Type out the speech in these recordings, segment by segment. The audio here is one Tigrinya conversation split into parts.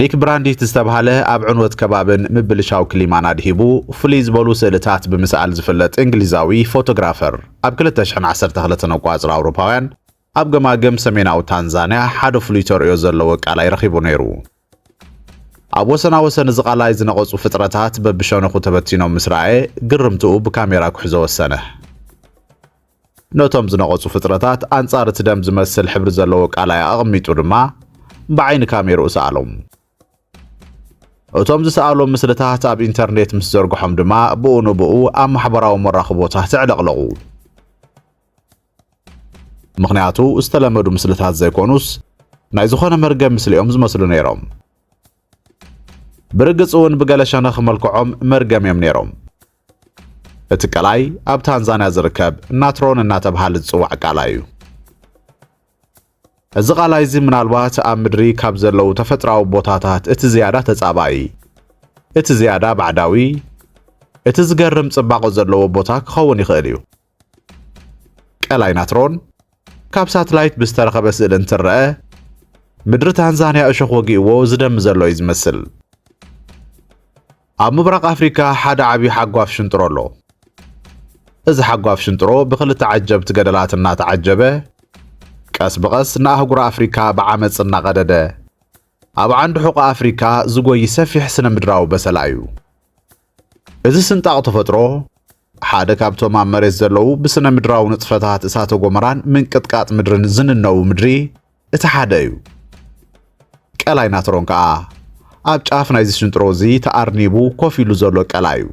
ኒክ ብራንዲት ዝተብሃለ ኣብ ዕንወት ከባብን ምብልሻው ክሊማን ኣድሂቡ ፍልይ ዝበሉ ስእልታት ብምስኣል ዝፍለጥ እንግሊዛዊ ፎቶግራፈር ኣብ 2012 ነቋጽር ኣውሮፓውያን ኣብ ገማግም ሰሜናዊ ታንዛንያ ሓደ ፍሉይ ተርእዮ ዘለዎ ቃላይ ረኺቡ ነይሩ። ኣብ ወሰና ወሰን እዚ ቃላይ ዝነቐጹ ፍጥረታት በብሸነኹ ተበቲኖም ምስ ረኣየ ግርምትኡ ብካሜራ ክሕዞ ወሰነ። ነቶም ዝነቐጹ ፍጥረታት ኣንጻር እቲ ደም ዝመስል ሕብሪ ዘለዎ ቃላይ ኣቐሚጡ ድማ ብዓይኒ ካሜርኡ ሰኣሎም። እቶም ዝሰኣሎም ምስልታት ኣብ ኢንተርኔት ምስ ዘርግሖም ድማ ብኡ ንብኡ ኣብ ማሕበራዊ መራኽቦታት ተዕለቕለቑ። ምኽንያቱ ዝተለመዱ ምስልታት ዘይኮኑስ ናይ ዝኾነ መርገም ምስሊ እዮም ዝመስሉ ነይሮም። ብርግጽ እውን ብገለ ሸነኽ መልክዖም መርገም እዮም ነይሮም። እቲ ቀላይ ኣብ ታንዛንያ ዝርከብ ናትሮን እናተብሃለ ዝጽዋዕ ቃላ እዩ። እዚ ቃላይ እዚ ምናልባት ኣብ ምድሪ ካብ ዘለዉ ተፈጥራዊ ቦታታት እቲ ዝያዳ ተጻባኢ፣ እቲ ዝያዳ ባዕዳዊ፣ እቲ ዝገርም ጽባቐ ዘለዎ ቦታ ክኸውን ይኽእል እዩ። ቀላይ ናትሮን ካብ ሳትላይት ብዝተረኸበ ስእሊ እንትረአ ምድሪ ታንዛንያ እሾኽ ወጊእዎ ዝደሚ ዘሎ እዩ ዝመስል። ኣብ ምብራቕ ኣፍሪካ ሓደ ዓብዪ ሓጓፍ ሽንጥሮ ኣሎ። እዚ ሓጓፍ ሽንጥሮ ብክልተ ዓጀብቲ ገደላት እናተዓጀበ ቀስ ብቐስ ንኣህጉር ኣፍሪካ ብዓመፅ እናቐደደ ኣብ ዓንዲ ሕቆ ኣፍሪካ ዝጎይ ሰፊሕ ስነ ምድራዊ በሰላ እዩ። እዚ ስንጣቕ ተፈጥሮ ሓደ ካብቶም ኣብ መሬት ዘለዉ ብስነ ምድራዊ ንጥፈታት እሳተ ጎመራን ምንቅጥቃጥ ምድርን ዝንነቡ ምድሪ እቲ ሓደ እዩ ቀላይ ናትሮን ከዓ ኣብ ጫፍ ናይዚ ሽንጥሮ እዚ ተኣርኒቡ ኮፍ ኢሉ ዘሎ ቀላይ እዩ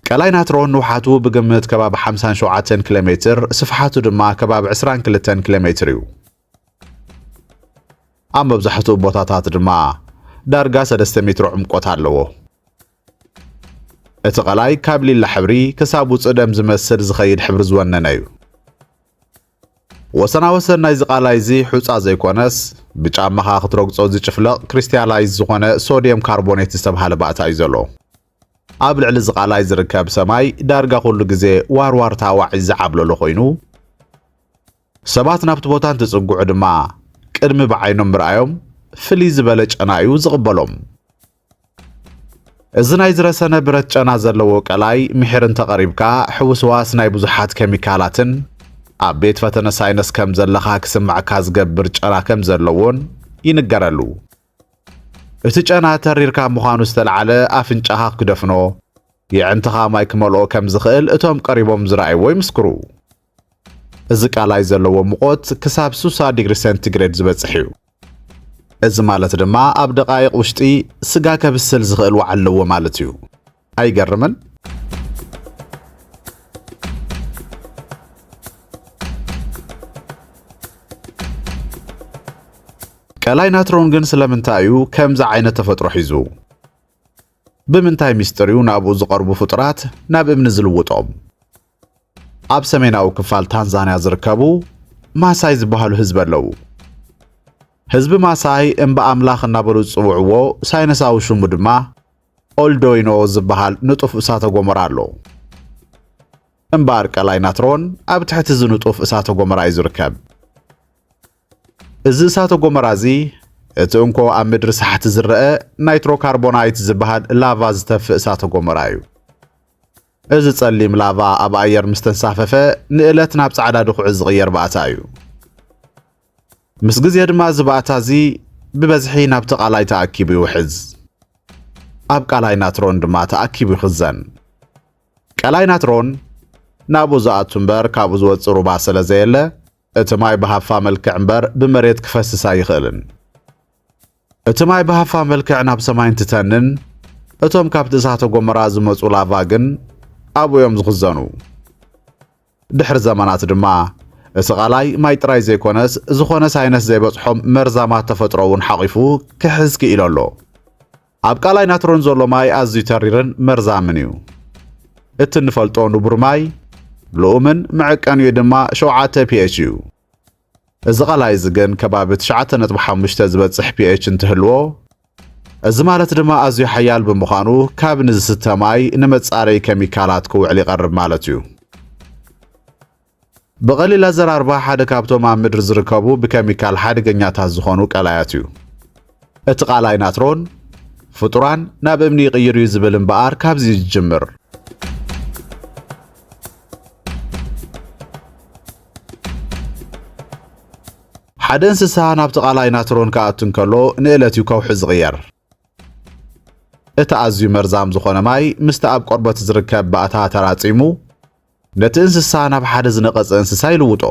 ቀላይ ናትሮን ንውሓቱ ብግምት ከባቢ 57 ኪሎ ሜትር ስፍሓቱ ድማ ከባቢ 22 ኪሎ ሜትር እዩ ኣብ መብዛሕትኡ ቦታታት ድማ ዳርጋ ሰለስተ ሜትሮ ዕምቆት ኣለዎ። እቲ ቐላይ ካብ ሊላ ሕብሪ ክሳብ ውፅእ ደም ዝመስል ዝኸይድ ሕብሪ ዝወነነ እዩ። ወሰና ወሰን ናይዚ ቃላይ እዚ ሑፃ ዘይኮነስ ብጫማኻ ክትረግፆ ዝጭፍለቕ ክሪስታላይዝ ዝኾነ ሶድየም ካርቦኔት ዝተብሃለ ባእታ እዩ ዘሎ። ኣብ ልዕሊ እዚ ቃላይ ዝርከብ ሰማይ ዳርጋ ኩሉ ግዜ ዋርዋርታ ዋዒ ዝዓብለሎ ኮይኑ ሰባት ናብቲ ቦታ እንትጽግዑ ድማ ቅድሚ ብዓይኖም ምርኣዮም ፍልይ ዝበለ ጨና እዩ ዝቕበሎም። እዚ ናይ ዝረሰነ ብረት ጨና ዘለዎ ቀላይ ምሒር እንተቐሪብካ ሕውስዋስ ናይ ብዙሓት ኬሚካላትን ኣብ ቤት ፈተነ ሳይነስ ከም ዘለኻ ክስምዕካ ዝገብር ጨና ከም ዘለዎን ይንገረሉ። እቲ ጨና ተሪርካ ምዃኑ ዝተለዓለ ኣፍንጫኻ ክደፍኖ፣ የዕንትኻ ማይ ክመልኦ ከም ዝኽእል እቶም ቀሪቦም ዝረኣይዎ ይምስክሩ። እዚ ቃላይ ዘለዎ ሙቐት ክሳብ 60 ዲግሪ ሰንቲግሬድ ዝበጽሕ እዩ። እዚ ማለት ድማ ኣብ ደቓይቕ ውሽጢ ስጋ ከብስል ዝኽእል ዋዕ ኣለዎ ማለት እዩ። ኣይገርምን? ቀላይ ናትሮን ግን ስለምንታይ እዩ ከምዚ ዓይነት ተፈጥሮ ሒዙ? ብምንታይ ምስጢር እዩ ናብኡ ዝቐርቡ ፍጡራት ናብ እምኒ ዝልውጦም? ኣብ ሰሜናዊ ክፋል ታንዛንያ ዝርከቡ ማሳይ ዝበሃሉ ህዝቢ ኣለዉ። ህዝቢ ማሳይ እምባ ኣምላኽ እናበሉ ዝጽውዕዎ ሳይነሳዊ ሽሙ ድማ ኦልዶይኖ ዝበሃል ንጡፍ እሳተ ጎመራ ኣሎ። እምባ ኣርቀላይ ናትሮን ኣብ ትሕቲ እዚ ንጡፍ እሳተ ጎመራ እዩ ዝርከብ። እዚ እሳተ ጎመራ እዚ እቲ እንኮ ኣብ ምድሪ ሳሕቲ ዝረአ ናይትሮካርቦናይት ዝበሃል ላቫ ዝተፍእ እሳተ ጎመራ እዩ። እዚ ጸሊም ላቫ ኣብ ኣየር ምስ ተንሳፈፈ ንእለት ናብ ጻዕዳ ድኹዒ ዝቕየር ባእታ እዩ። ምስ ግዜ ድማ እዚ ባእታ እዚ ብበዝሒ ናብቲ ቃላይ ተኣኪቡ ይውሕዝ። ኣብ ቃላይ ናትሮን ድማ ተኣኪቡ ይኽዘን። ቀላይ ናትሮን ናብኡ ዝኣቱ እምበር ካብኡ ዝወጽእ ሩባ ስለ ዘየለ እቲ ማይ ብሃፋ መልክዕ እምበር ብመሬት ክፈስስ ኣይኽእልን። እቲ ማይ ብሃፋ መልክዕ ናብ ሰማይ እንትተንን እቶም ካብቲ እሳተ ጎመራ ዝመጹ ላቫ ግን ኣብኡ እዮም ዝኽዘኑ። ድሕሪ ዘመናት ድማ እቲ ቃላይ ማይ ጥራይ ዘይኮነስ ዝኾነ ሳይነስ ዘይበጽሖም መርዛማት ተፈጥሮ እውን ሓቚፉ ክሕዝ ክኢሉ ኣሎ። ኣብ ቃላይ ናትሮን ዘሎ ማይ ኣዝዩ ተሪርን መርዛምን እዩ። እቲ እንፈልጦ ንቡር ማይ ልኡምን መዐቀኒኡ ድማ ሸውዓተ ፒኤች እዩ። እዚ ቃላይ እዚ ግን ከባቢ ትሽዓተ ነጥቢ ሓሙሽተ ዝበጽሕ ፒኤች እንትህልዎ እዚ ማለት ድማ ኣዝዩ ሓያል ብምዃኑ ካብ ንዝስተ ማይ ንመጻረዪ ኬሚካላት ክውዕል ይቐርብ ማለት እዩ። ብቐሊል ኣዘራርባ ሓደ ካብቶም ኣብ ምድሪ ዝርከቡ ብኬሚካል ሓደገኛታት ዝኾኑ ቀላያት እዩ። እቲ ቃላይ ናትሮን ፍጡራን ናብ እምኒ ይቕይር እዩ ዝብል እምበኣር ካብዚ እዩ ዝጅምር። ሓደ እንስሳ ናብቲ ቃላይ ናትሮን ክኣቱ እንከሎ ንእለት እዩ ከውሒ ዝቕየር። እቲ ኣዝዩ መርዛም ዝኾነ ማይ ምስቲ ኣብ ቆርበት ዝርከብ ባእታ ተራጺሙ ነቲ እንስሳ ናብ ሓደ ዝነቐጸ እንስሳ ይልውጦ።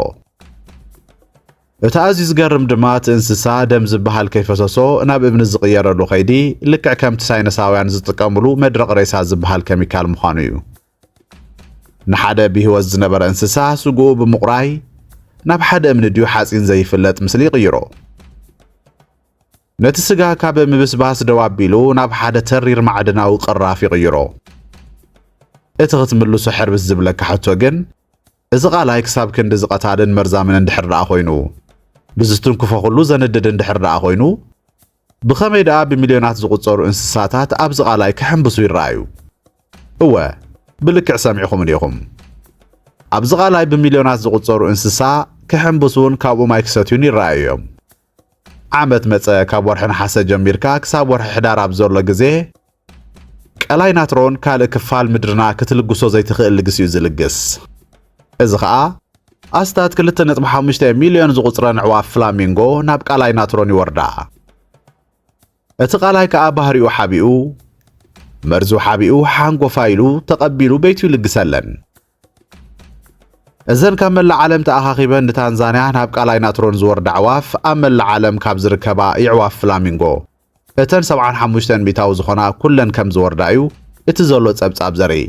እቲ ኣዝዩ ዝገርም ድማ እቲ እንስሳ ደም ዝበሃል ከይፈሰሶ ናብ እምኒ ዝቕየረሉ ከይዲ ልክዕ ከምቲ ሳይነሳውያን ዝጥቀምሉ መድረቕ ሬሳ ዝበሃል ከሚካል ምዃኑ እዩ። ንሓደ ብህይወት ዝነበረ እንስሳ ስግኡ ብምቑራይ ናብ ሓደ እምኒ ድዩ ሓፂን ዘይፍለጥ ምስሊ ይቕይሮ። ነቲ ስጋ ካብ ምብስባስ ደው ኣቢሉ ናብ ሓደ ተሪር ማዕድናዊ ቅራፍ ይቕይሮ። እቲ ክትምልሶ ሕርብስ ዝብለካ ሕቶ ግን እዚ ቃላይ ክሳብ ክንዲ ዝቐታልን መርዛምን እንድሕር ደኣ ኮይኑ ብዝትንክፎ ኩሉ ዘንድድ እንድሕር ደኣ ኮይኑ ብኸመይ ደኣ ብሚልዮናት ዝቑጸሩ እንስሳታት ኣብዚ ቃላይ ክሕንብሱ ይረኣዩ? እወ ብልክዕ ሰሚዕኹምኒ ኢኹም። ኣብዚ ቃላይ ብሚልዮናት ዝቑጸሩ እንስሳ ክሕንብሱን ካብኡ ማይ ክሰትዩን ይረኣዩ እዮም። ዓመት መጸ ካብ ወርሒ ነሓሰ ጀሚርካ ክሳብ ወርሒ ሕዳር ኣብ ዘሎ ግዜ ቀላይ ናትሮን ካልእ ክፋል ምድርና ክትልግሶ ዘይትኽእል ልግስ እዩ ዝልግስ እዚ ኸኣ ኣስታት 2.5 ሚልዮን ዝቝጽረን ኣዕዋፍ ፍላሚንጎ ናብ ቃላይ ናትሮን ይወርዳ። እቲ ቃላይ ከኣ ባህሪኡ ሓቢኡ መርዙ ሓቢኡ ሓንጎፋ ኢሉ ተቐቢሉ ቤቱ ይልግሰለን። እዘን ካብ መላእ ዓለም ተኣኻኺበን ንታንዛንያ ናብ ቃላይ ናትሮን ዝወርዳ ኣዕዋፍ ኣብ መላእ ዓለም ካብ ዝርከባ ይዕዋፍ ፍላሚንጎ እተን 75 ሚእታዊ ዝኾና ኩለን ከም ዝወርዳ እዩ እቲ ዘሎ ጸብጻብ ዘርኢ።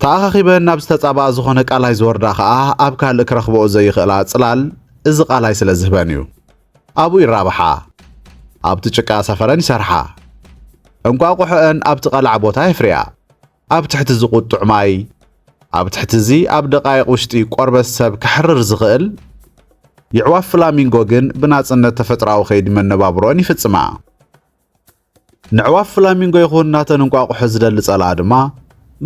ተኣኻኺበን ናብ ዝተጻብኣ ዝኾነ ቃላይ ዝወርዳ ኸኣ ኣብ ካልእ ክረኽበኦ ዘይኽእላ ጽላል እዚ ቃላይ ስለ ዝህበን እዩ። ኣብኡ ይራብሓ፣ ኣብቲ ጭቃ ሰፈረን ይሰርሓ፣ እንቋቑሖአን ኣብቲ ቐላዕ ቦታ የፍርያ። ኣብ ትሕቲ ዝቝጥዕ ማይ፣ ኣብ ትሕቲ እዚ ኣብ ደቓይቕ ውሽጢ ቆርበት ሰብ ከሕርር ዝኽእል፣ የዕዋፍ ፍላሚንጎ ግን ብናጽነት ተፈጥራዊ ከይዲ መነባብሮኣን ይፍጽማ። ንዕዋፍ ፍላሚንጎ ይኹን ናተን እንቋቑሖ ዝደሊ ጸላኣ ድማ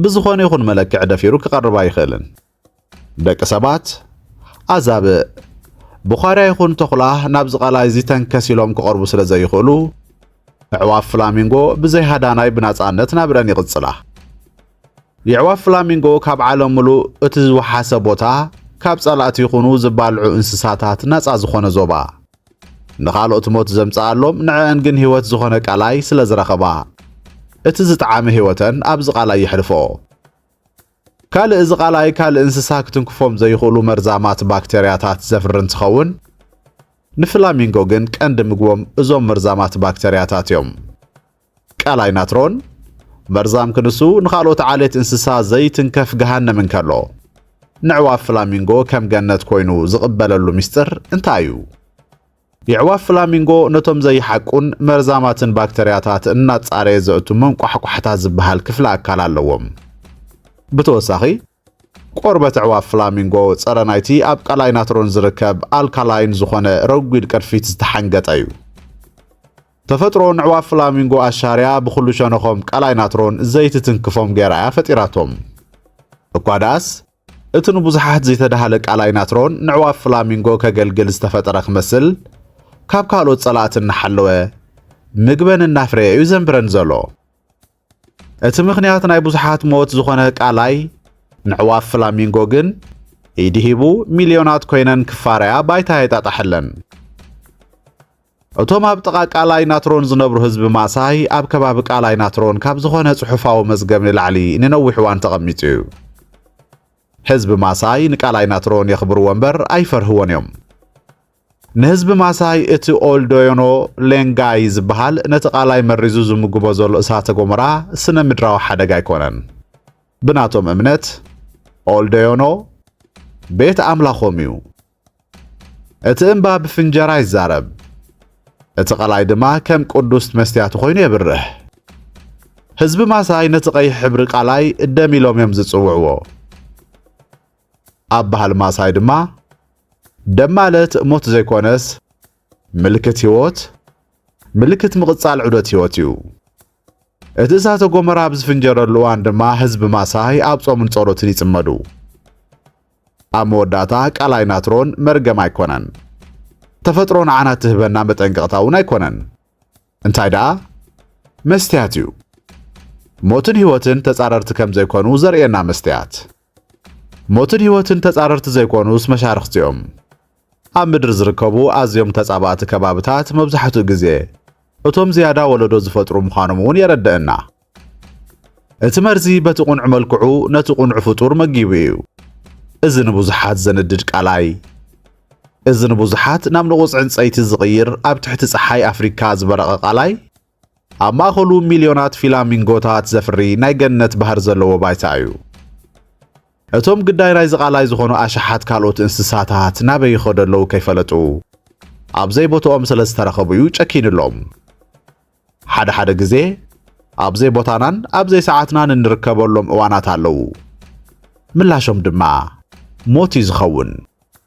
ብዝኾነ ይኹን መለክዒ ደፊሩ ክቐርብ ኣይኽእልን። ደቂ ሰባት ኣዛብእ ብዃርያ ይኹን ተኹላ ናብዚ ቃላይ እዚ ተንከስ ኢሎም ክቐርቡ ስለ ዘይኽእሉ ኣዕዋፍ ፍላሚንጎ ብዘይ ሃዳናይ ብናጻነት ናብረን ይቕጽላ። የዕዋፍ ፍላሚንጎ ካብ ዓለም ምሉእ እቲ ዝወሓሰ ቦታ ካብ ጸላእቲ ይኹኑ ዝባልዑ እንስሳታት ናጻ ዝኾነ ዞባ ንኻልኦት ሞት ዘምጽኣሎም ንዕአን ግን ህይወት ዝኾነ ቃላይ ስለ ዝረኸባ እቲ ዝጠዓመ ህይወተን ኣብዚ ቃላይ የሕልፎ። ካልእ እዚ ቃላይ ካልእ እንስሳ ክትንክፎም ዘይኽእሉ መርዛማት ባክተርያታት ዘፍሪ እንትኸውን፣ ንፍላሚንጎ ግን ቀንዲ ምግቦም እዞም መርዛማት ባክተርያታት እዮም። ቃላይ ናትሮን መርዛም ክንሱ ንኻልኦት ዓሌት እንስሳ ዘይትንከፍ ገሃነም እንከሎ፣ ነዕዋፍ ፍላሚንጎ ከም ገነት ኮይኑ ዝቕበለሉ ምስጢር እንታይ እዩ? የዕዋፍ ፍላሚንጎ ነቶም ዘይሓቁን መርዛማትን ባክተርያታት እናጻረየ ዘእቱ መንቋሕቋሕታ ዝበሃል ክፍሊ ኣካል ኣለዎም። ብተወሳኺ ቆርበት ኣዕዋፍ ፍላሚንጎ ጸረ ናይቲ ኣብ ቀላይ ናትሮን ዝርከብ ኣልካላይን ዝኾነ ረጒድ ቅርፊት ዝተሓንገጠ እዩ። ተፈጥሮ ንዕዋፍ ፍላሚንጎ ኣሻርያ ብኹሉ ሸነኾም ቀላይ ናትሮን ዘይትትንክፎም ገይራ እያ ፈጢራቶም። እኳ ደኣስ እቲ ንብዙሓት ዘይተዳህለ ቃላይ ናትሮን ንዕዋፍ ፍላሚንጎ ከገልግል ዝተፈጠረ ክመስል ካብ ካልኦት ጸላእቲ እናሓለወ ምግበን እናፍረየ እዩ ዘንብረን ዘሎ እቲ ምኽንያት ናይ ብዙሓት ሞት ዝኾነ ቃላይ ንዕዋፍ ፍላሚንጎ ግን ኢዲ ሂቡ ሚልዮናት ኮይነን ክፋረያ ባይታ የጣጣሐለን እቶም ኣብ ጥቓ ቃላይ ናትሮን ዝነብሩ ህዝቢ ማሳይ ኣብ ከባቢ ቃላይ ናትሮን ካብ ዝኾነ ጽሑፋዊ መዝገብ ንላዕሊ ንነዊሕ እዋን ተቐሚጡ እዩ። ህዝቢ ማሳይ ንቃላይ ናትሮን የኽብርዎ እምበር ኣይፈርህዎን እዮም። ንህዝቢ ማሳይ እቲ ኦልዶዮኖ ሌንጋይ ዝበሃል ነቲ ቃላይ መሪዙ ዝምግቦ ዘሎ እሳተ ጎመራ ስነ ምድራዊ ሓደጋ ኣይኮነን። ብናቶም እምነት ኦልዶዮኖ ቤት ኣምላኾም እዩ። እቲ እምባ ብፍንጀራ ይዛረብ፣ እቲ ቀላይ ድማ ከም ቅዱስ መስትያቱ ኮይኑ የብርህ። ህዝቢ ማሳይ ነቲ ቀይሕ ሕብሪ ቃላይ ደም ኢሎም እዮም ዝጽውዕዎ። ኣብ ባህሊ ማሳይ ድማ ደም ማለት ሞት ዘይኮነስ ምልክት ህይወት፣ ምልክት ምቕጻል ዑደት ህይወት እዩ። እቲ እሳተ ጎመራ ኣብ ዝፍንጀረሉ እዋን ድማ ህዝቢ ማሳይ ኣብ ጾምን ጸሎትን ይጽመዱ። ኣብ መወዳእታ ቃላይ ናትሮን መርገም ኣይኮነን። ተፈጥሮ ንዓና እትህበና መጠንቀቕታ እውን ኣይኮነን። እንታይ ደኣ መስትያት እዩ። ሞትን ህይወትን ተጻረርቲ ከም ዘይኮኑ ዘርእየና መስትያት። ሞትን ህይወትን ተጻረርቲ ዘይኮኑስ መሻርኽቲ እዮም። ኣብ ምድሪ ዝርከቡ ኣዝዮም ተጻባእቲ ከባብታት መብዛሕትኡ ግዜ እቶም ዝያዳ ወለዶ ዝፈጥሩ ምዃኖም እውን የረድእና። እቲ መርዚ በቲ ቁንዕ መልክዑ ነቲ ቁንዕ ፍጡር መጊቡ እዩ። እዚ ንብዙሓት ዘንድድ ቃላይ እዚ ንብዙሓት ናብ ንቑጽ ዕንጸይቲ ዝቕይር ኣብ ትሕቲ ጸሓይ ኣፍሪካ ዝበረቐ ቃላይ ኣብ ማእኸሉ ሚልዮናት ፊላሚንጎታት ዘፍሪ ናይ ገነት ባህሪ ዘለዎ ባይታ እዩ። እቶም ግዳይ ናይዚ ቃላይ ዝኾኑ ኣሽሓት ካልኦት እንስሳታት ናበይ ይኸዱ ኣለዉ ከይፈለጡ ኣብ ዘይቦትኦም ስለ ዝተረኸቡ እዩ ጨኪንሎም። ሓደ ሓደ ግዜ ኣብ ዘይቦታናን ኣብ ዘይሰዓትናን እንርከበሎም እዋናት ኣለዉ። ምላሾም ድማ ሞት እዩ ዝኸውን።